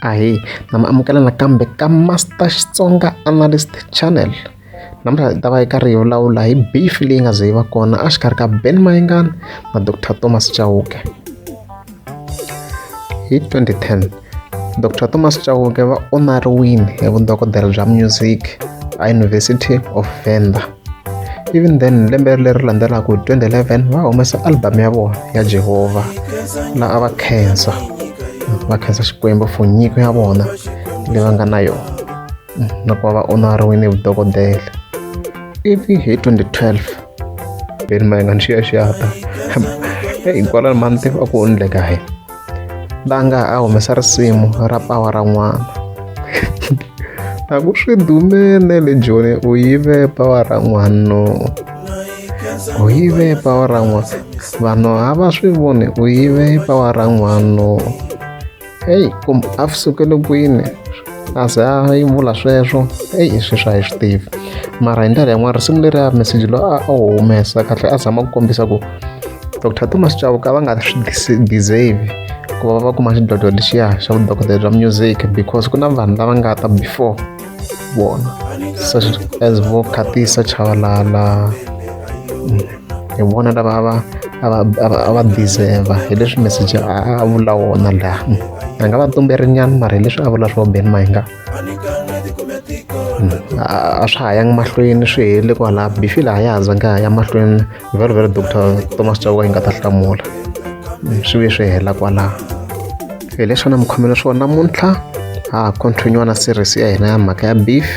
ahe na mi amukela nakambe ka master xitsonga analyst channel namuntlha hi ta va eka riyo lawula hi beef leyi nga ze yi va kona exikarhi ka ben mayengani na dr thomas chauke hi 2010 dr thomas chauke va onariwini hi vudokodela bya music eyunivhesiti of venda even then lembe leri landzelaka 2011 va humesa album ya vona ya jehovha laha a va khensa va khensa xikwembu for nyiko ya vona leyi va nga na yona na ku va va onariwile hi vudokodela ivi hi 2012 veni mayengani xiyaxiyata hinkwalani mani tiva a ku onile kaye la nga a humesa risimu ra pawa ra n'wana a ku swi dumene le joni u yive pawa ra n'wano u yive pawa ra n'wana vanhu a va swi voni u yive pawa ra n'wano heyi kumbe a sukele kwini a ze a yi vula sweswo eyi i sweswi a hi swi tivi mara hi ndlela yin'wana risimu leri a meseji loyi a a wu humesa kahle a zama ku kombisa ku dr thomas chauka va nga swi deserve ku va va kuma xidlodlo lexiya xa vudokodela bya music because ku na vanhu lava nga ta before vona such as vo khatisa chavalala mm. hi vona lava va va va deserve hi leswi message a vula wona laha a nga va tumberi nyana mara hi leswi a vula swo ben mahinga a swa ha yangi mahlweni swi hele kwalaha bifi laha ya handza nga ya mahlweni very very doctor thomas chauka yi nga ta hlamula swi ve swi hela kwalaha hi leswi a na mi khomela swona namuntlha ha ha continue na series ya hina ya mhaka ya beef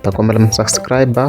ta kombela mi subscriber